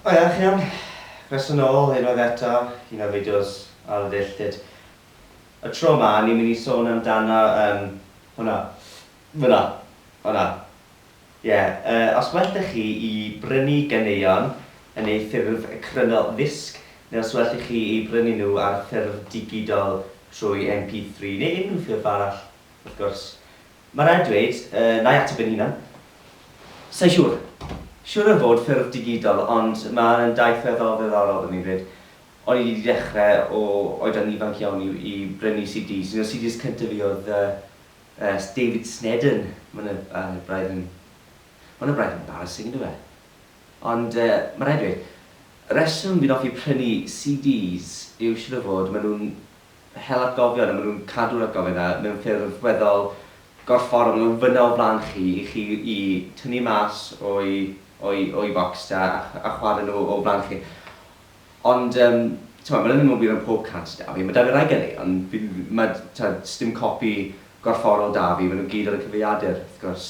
O ia, chi'n iawn? Croeso nôl unwaith eto i un o fideos Ailddilltud. Y tro 'ma, ni'n mynd i sôn amdano yym hwnna. Fynna. Hwnna. Ie, yy, os well 'da chi i brynu ganeuon yn eu ffurf cryno ddisg, neu os well i chi eu brynu nhw ar ffurf digidol trwy MP3, neu unrhyw ffurf arall, wrth gwrs, Mae rhaid dweud, yy, na i ateb yn hunan. Sa i siŵr. Siŵr o fod ffurf digidol, ond mae hwn yn daith weddol ddiddorol i mi 'fyd. O'n i 'di dechrau o oedran ifanc iawn i i brynu CDs. Un o'r CDs cyntaf fi oedd, yy, yy, David Sneddon. Mae hwnna ar y braidd yn... Mae hwnna braidd yn embarrassing, yndyw e? Ond, yy, mae rhaid dweud, y rheswm fi'n hoffi prynu CDs yw siŵr o fod maen nhw'n hel atgofion a maen nhw'n cadw'r atgofion 'na mewn ffurf weddol gorfforol, maen nhw'n fynna o flaen chi i chi i tynnu mas o'i o'i o'i focs a a chwarae nhw o flaen chi. Ond yym t'mod ma' hynna ddim yn wir am pob cant 'da fi, ma' 'da fi rai ganeuon fi n- ma' t'od sdim copi gorfforol 'da fi, maen nhw gyd ar y cyfrifiadur wrth gwrs.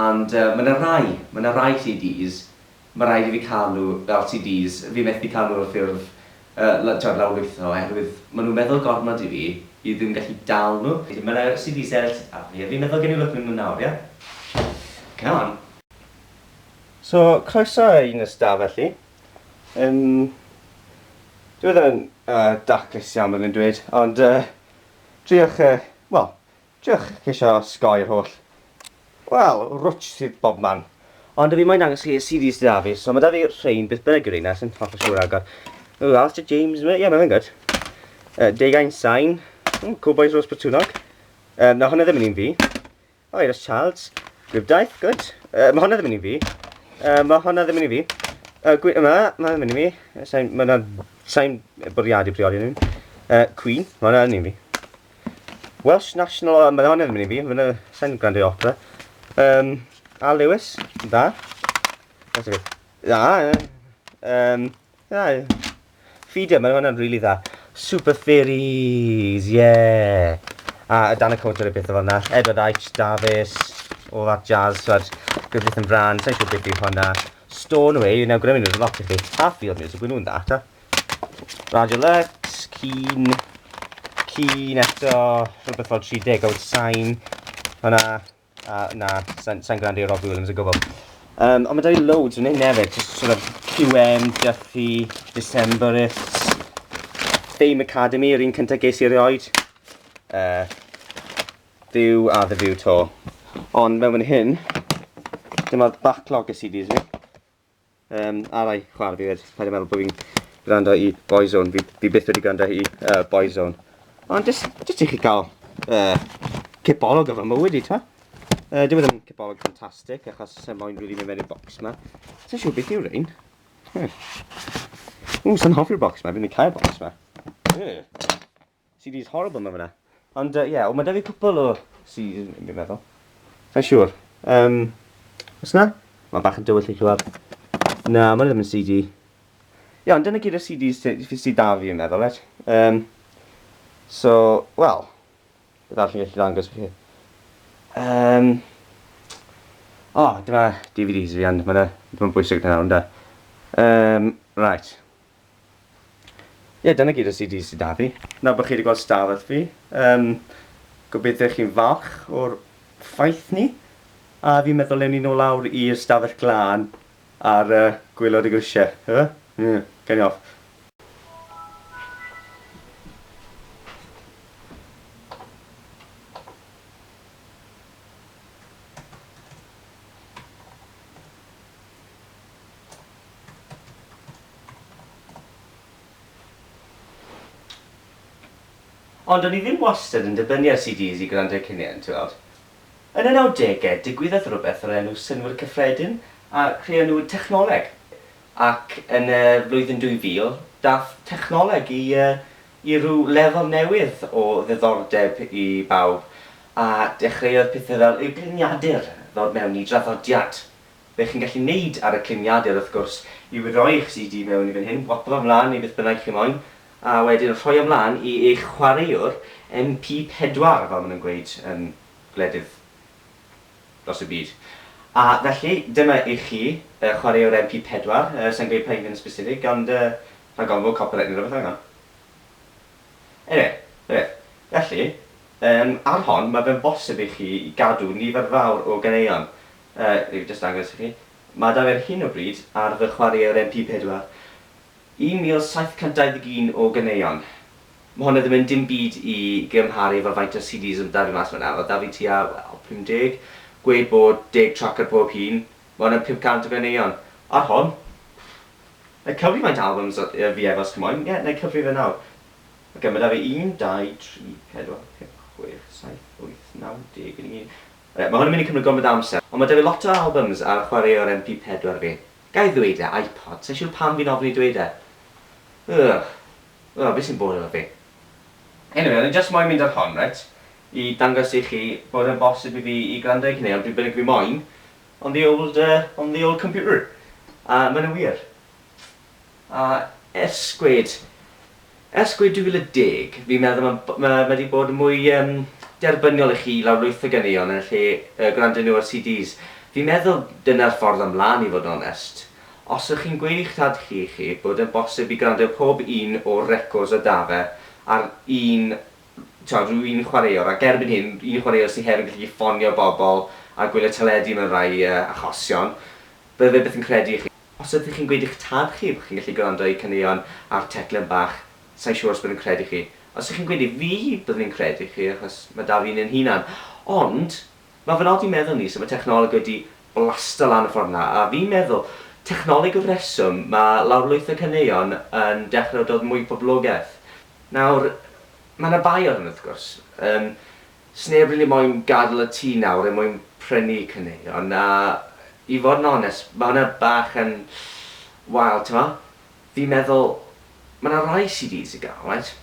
And yy ma' 'na rai, ma' 'na rai CDs Mae rhaid i fi cael nhw fel CDs, fi methu cael nhw ar ffurf yy t'wod lawrlwytho oherwydd ma' nhw'n meddwl gormod i fi i ddim gallu dal nhw. Mae 'na CDs eraill arno fi a fi'n meddwl gawn ni lwc mewn nhw nawr, ie? Come on! So, croeso i Nyrs Da felly. Yym, dyw e ddim yn yy daclus iawn byddwn i'n dweud, ond yy, triwch yy, wel, Dych chi isio osgoi'r holl, wel, rwtsh sydd bobman. Ond dw i moyn dangos chi y CDs sy 'da fi, so ma' 'da fi rhein, beth bynnag yw reina, sai'n hollol siŵr ragor. Ww, Alistair James, ie, mae'n good. Uh, Deugain Sain, mm, Cool Boys Rose Botwnog. Um, na, hwnna ddim yn un fi. O, oh, Iris Childs, Gwibdaeth, good. Uh, mae hwnna ddim yn un fi. Uh, mae hwnna ddim yn un fi. Uh, gwy, yma, mae hwnna ddim yn un fi. Sain, mae hwnna, sain bwriadu priodi nhw'n. Uh, Queen, mae hwnna yn un fi. Welsh National Anthem yn erbyn i fi, fy na sain gwrando i opera. Um, a Lewis, da. Da, da, da, um, da, Feeder, mae hwnna'n really dda. Super Fairies, yeah! A y dan y counter y beth o fanna. Edward Aitch, Davis, all that jazz, twad. Griffith and Brand, sa'n siŵr beth yw hwnna. Stornway, nawr gwneud nhw'n lot i chi. A Field Music, gwneud nhw'n dda, ta. Radio Lux, cyn, cyn eto rhywbeth fel 30 o'r sain. Hwna, a na, sain, sain grand i'r Robbie Williams o gwbl. Um, ond mae dau loads yn hyn hefyd, just sort of QM, Duffy, Decemberists, Fame Academy, yr un cyntaf ges i erioed. Uh, View a The View to. Ond mewn fan hyn, dyma'r backlog y CDs fi. Yym, arai, chwar, fi wed, paid a meddwl bod fi'n gwrando i Boyzone, fi, fi byth wedi gwrando i uh, Boyzone. Ond jyst, jyst i chi cael uh, cipolog o fy mywyd i, ta? Uh, Dwi ddim yn cipolog ffantastig, achos sy'n moyn rwy'n mynd mewn i'r bocs yma. Sy'n siw beth yw rhain? Hmm. Ww, sy'n hoffi'r bocs yma, fi'n mynd cael bocs yma. Yeah. CD's horrible ma fanna. Ond yy ie, wel ma 'da fi cwpwl o CD's fi'n meddwl. Sai'n siŵr. Yym, o's 'na? Ma'n bach yn dywyll i clywad. Na, ma' 'na ddim yn CD. Ie, ond dyna gyd o CD's sy sy sy 'da fi fi'n meddwl, reit? Yym, so, wel, beth arall fi'n gallu ddangos chi? Yym, o, dyma DVD's fi ond ma' 'na ddim yn bwysig nawr ynde? Yym, reit. Ie, dyna gyd o CDs sy 'da fi. Nawr bod chi 'di gweld stafell fi, yym, gobeithio chi'n falch o'r ffaith 'ny. A fi'n meddwl ewn ni nôl lawr i'r stafell glân ar yy gwaelod y grisiau, ife? Ie, gawn ni off. Ond o'n i ddim wastad yn dibynnu ar CDs i gwrando eu cinien, ti'n weld. Yn y nawdegau, digwyddodd rhywbeth o'r enw Synnwyr Cyffredin a creonwyd technoleg. Ac yn y flwyddyn 2000, daeth technoleg i i ryw lefel newydd o ddiddordeb i bawb, a dechreuodd pethau fel eugliniadur ddod mewn i draddodiad, Be chi'n gallu neud ar y climiadur wrth gwrs yw rhoi eich CD mewn i fan hyn, waplo fo mlan i beth bynnag chi moyn, a wedyn rhoi o mlan i eich chwaraewr MP4 fel ma nhw'n gweud yn gwledydd dros y byd. A felly, dyma i chi y chwaraewr MP4, yy sai'n gweud pa un yn sbesifig ond yy rhag ofn fod copyright neu rywbeth allan o. Eniwe, na beth. Felly, yym ar hon ma fe'n bosib i chi gadw nifer fawr o ganeuon, Yy, jyst dangos i chi. Mae 'da fi ar hyn o bryd, ar fy chwaraewr MP pedwar, 1,721 o ganeuon. Mae hwnna ddim yn dim byd i gymharu efo faint o CDs oedd 'da fi mas fan'na. Oedd 'da fi tua, wel, 50, gwed bod deg trac ar pob un. Mae hwnna'n 500 o ganeuon. Ar hon, wna i cyfri faint o albums oedd 'da fi ef, os chi moyn. Ie, wna i cyfri fe nawr. Ocê, mae 'da fi un, dau, tri, pedwar, pump, chwech, saith, wyth, naw, deg, un, Mae hwn yn mynd i cymryd gormod o amser, ond mae 'da fi lot o albums ar chwaraewr MP4 fi. Ga i ddweud e? iPod? Sa i'n siŵr pam fi'n ofni dweud e. Ugh. Wel, fi sy'n bod efo fi. Anyway, o'n i jyst moyn mynd ar hon, reit, i dangos i chi bod e'n bosib i fi i gwrando i chi neu be bynnag fi moyn on the old, uh, on the old computer. A mae hynna'n wir. A ers gwed, ers gwed 2010, fi'n meddwl ma' b- ma' ma' 'di bod mwy yym derbyniol i chi lawrlwytho ganeuon yn lle yy gwrando nhw ar CDs. Fi'n meddwl dyna'r ffordd am lan i fod yn onest. Os ych chi'n gweud i 'ch tad chi i chi bod yn bosib i gwrando pob un o'r records a 'da fe ar un, t'mod, ryw un chwaraewr, ac erbyn hyn, un chwaraewr sy hefyd yn gallu ffonio bobl a gwylio teledu mewn rhai yy achosion, bydde fe byth yn credu chi. Os ydych chi'n gweud i'ch tad chi bod chi'n gallu gwrando i caneuon ar teclyn bach, sa i'n siŵr os byddwn i'n credu chi. Os ydych chi'n gweud i fi, byddwn i'n credu chi, achos mae 'da fi un ein hunan. Ond, mae fy nod i meddwl ni sut mae technoleg wedi blasto lan y ffordd yna, a fi'n meddwl, technoleg yw'r rheswm mae lawrlwyth y caneuon yn dechrau dod mwy poblogaidd. Nawr, mae yna bai ar hyn, wrth gwrs. Yym, Sneb rili moyn gadl y tŷ nawr er mwyn prynu caneuon a i fod yn onest ma' hwnna bach yn wael t'mo? Fi'n meddwl ma' 'na rai CDs i ga'l reit?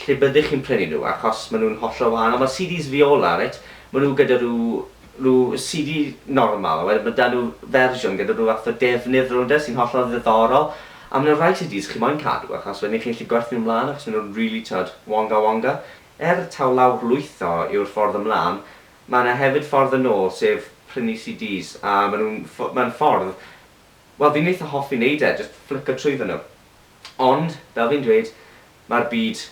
Lle byddech chi'n prynu nhw achos ma' nhw'n hollol wahanol ma' CDs fiola reit ma' nhw gyda rhyw rhyw CD normal a wedyn ma' 'da nhw fersiwn gyda rhyw fath o defnydd rownd e sy'n hollol ddiddorol a ma' 'na rai CDs chi moyn cadw achos wedyn chi'n gallu gwerthu nhw mlan achos ma' nhw'n rili t'wod wonga wonga. Er taw lawr lwytho yw'r ffordd ymlan, mae yna hefyd ffordd yn ôl, sef prynu CDs, a maen nhw'n, mae'n ffordd, wel fi'n eitha hoffi wneud e, jyst fflico trwyddo nhw. Ond, fel fi'n dweud, mae'r byd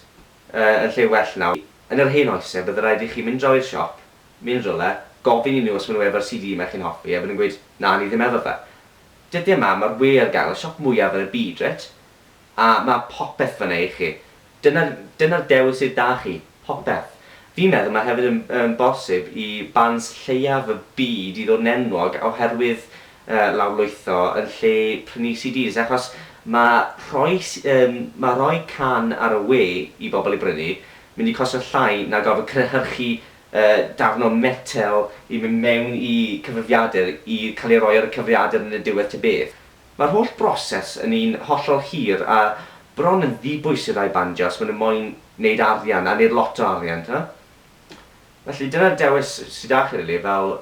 yn lle well nawr. Yn yr hen oes, bydde rhaid i chi mynd draw i'r siop, mynd rywle, gofyn i nhw os maen nhw efo'r CD 'ma chi'n hoffi, a bydden nhw'n gweud, 'na, ni ddim efo fe. Dyddiau 'ma, mae'r we ar gael, y siop mwyaf yn y byd, reit? A mae popeth fan'na i chi. Dyna, dyna'r dewis sydd 'da chi, popeth. Fi'n meddwl mae hefyd yn yn bosib i bands lleiaf y byd i ddod yn enwog oherwydd yy lawrlwytho yn lle prynu CDs achos ma' rhoi s- yym ma' rhoi can ar y we i bobl ei brynu mynd i costio llai na gorfod cynhyrchu yy darn o metel i mynd mewn i cyfrifiadur i cael ei roi ar y cyfrifiadur yn y diwedd ta beth. Mae'r holl broses yn un hollol hir a bron yn ddibwys i rai bandiau os maen nhw moyn neud arian, a neud lot o arian, t'mod? Felly dyna'r dewis sy 'da chi rili fel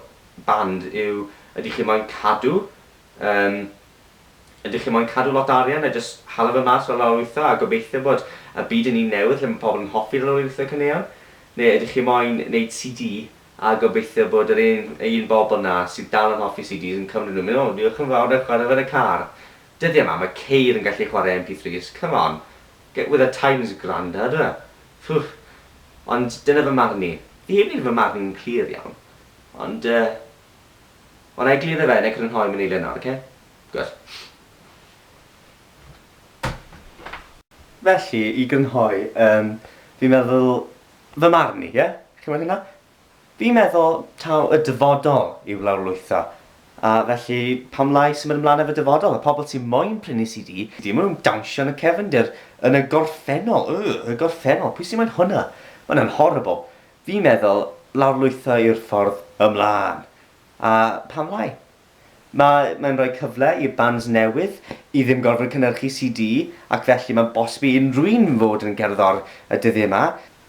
band yw ydych chi moyn cadw yym ydych chi moyn cadw lot o arian a jyst hala fe mas fel lawrlwytho a gobeithio bod y byd yn un newydd lle mae pobl yn hoffi lawrlwytho caneuon? Neu ydych chi moyn neud CD A gobeithio bod yr un un bobl 'na sydd dal yn hoffi CDs yn cymryd nhw mynd, 'O, diolch yn fawr, 'na i chwarae fe yn y car'. Dyddie 'ma, mae ceir yn gallu chwarae MP3s, come on, get with the times, grandad. Ffwff. Ond dyna fy marn i. Fi heb wneud fy marn i'n clir iawn, ond yy, wel, 'na i egluro fe, 'na i crynhoi mewn eiliad nawr, oce? Gwir. Felly, i grynhoi, yym, fi'n meddwl, Fy marn i, ie? Chimod hynna? Fi'n meddwl taw y dyfodol yw lawrlwytho, a felly pam lai symud ymlaen efo dyfodol? Y pobl sy moyn prynu CD, ma' nhw'n dawnsio yn y cefndir, yn y gorffennol, yy, y gorffennol, pwy sy moyn hwnna? Ma' hwnna'n horrible. Fi'n meddwl lawrlwytho yw'r ffordd ymlaen. A pam lai? Mae, mae'n rhoi cyfle i'r bands newydd i ddim gorfod cynhyrchu CD ac felly mae'n bosib i unrhyw un fod yn gerddor y dyddiau yma.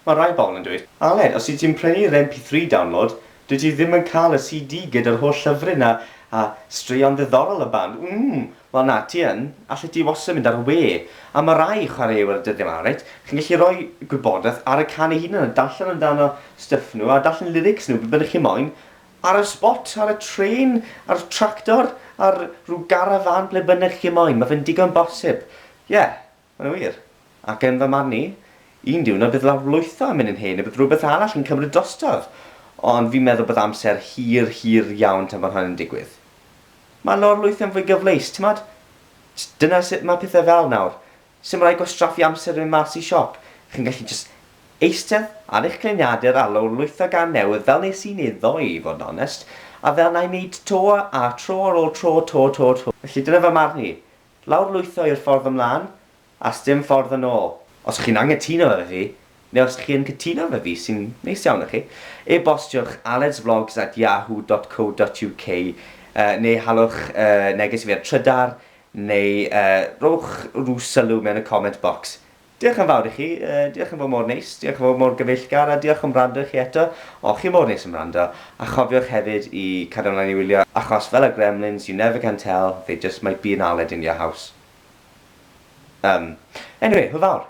Mae rhai pobl yn dweud, Aled, os wyt ti'n prynu'r MP3 download, dwyt ti ddim yn cael y CD gyda'r holl llyfryn a, a straeon ddiddorol y band. Wmm, wel na, ti yn, allet ti wastad mynd ar y we. A mae rhai chwaraewyr y dyddiau yma, reit, chi'n gallu rhoi gwybodaeth ar y can ei hunan a darllen amdano stwff nhw a darllen lyrics nhw, be bynnag chi moyn, Ar y spot, ar y trên, ar tractor, ar rhyw garafan, ble bynnag chi moyn, mae fe'n digon bosib. Ie, mae'n wir. Ac yn fy marn i, un diwrnod bydd lawrlwytho yn mynd yn hen neu bydd rhywbeth arall yn cymryd drostodd. Ond fi'n meddwl bod amser hir, hir iawn tan fod hynny'n digwydd. Mae lawrlwytho'n fwy gyfleus, timod? Dyna sut mae pethau fel nawr. Sdim rhaid gwastraffu amser yn mynd mas i siop, chi'n gallu jyst eistedd ar eich gliniadur a lawrlwytho gân newydd fel nes i'n iddo i fod yn onest, a fel na'i wneud to a tro ar ôl tro to to to. Felly dyna fy marn i. Lawrlwytho yw'r ffordd ymlân, a sdim ffordd yn ôl. Os chi'n anghytuno efo fi, neu os chi yn cytuno efo fi, sy'n neis iawn o chi, e-bostiwch aledsvlogs at yahoo dot co dot uk, yy, neu halwch yy neges i fi ar Trydar, Neu yy, rhowch rhyw sylw mewn y comment box. Diolch yn fawr i chi, yy, diolch am fod mor neis, diolch am fod mor gyfeillgar, a diolch am wrando i chi eto, o, chi mor neis am wrando, a chofiwch hefyd i cario mlaen i wylio, achos fel y Gremlins, you never can tell, they just might be yn aled in your house. Yym, anyway, hwyl fawr!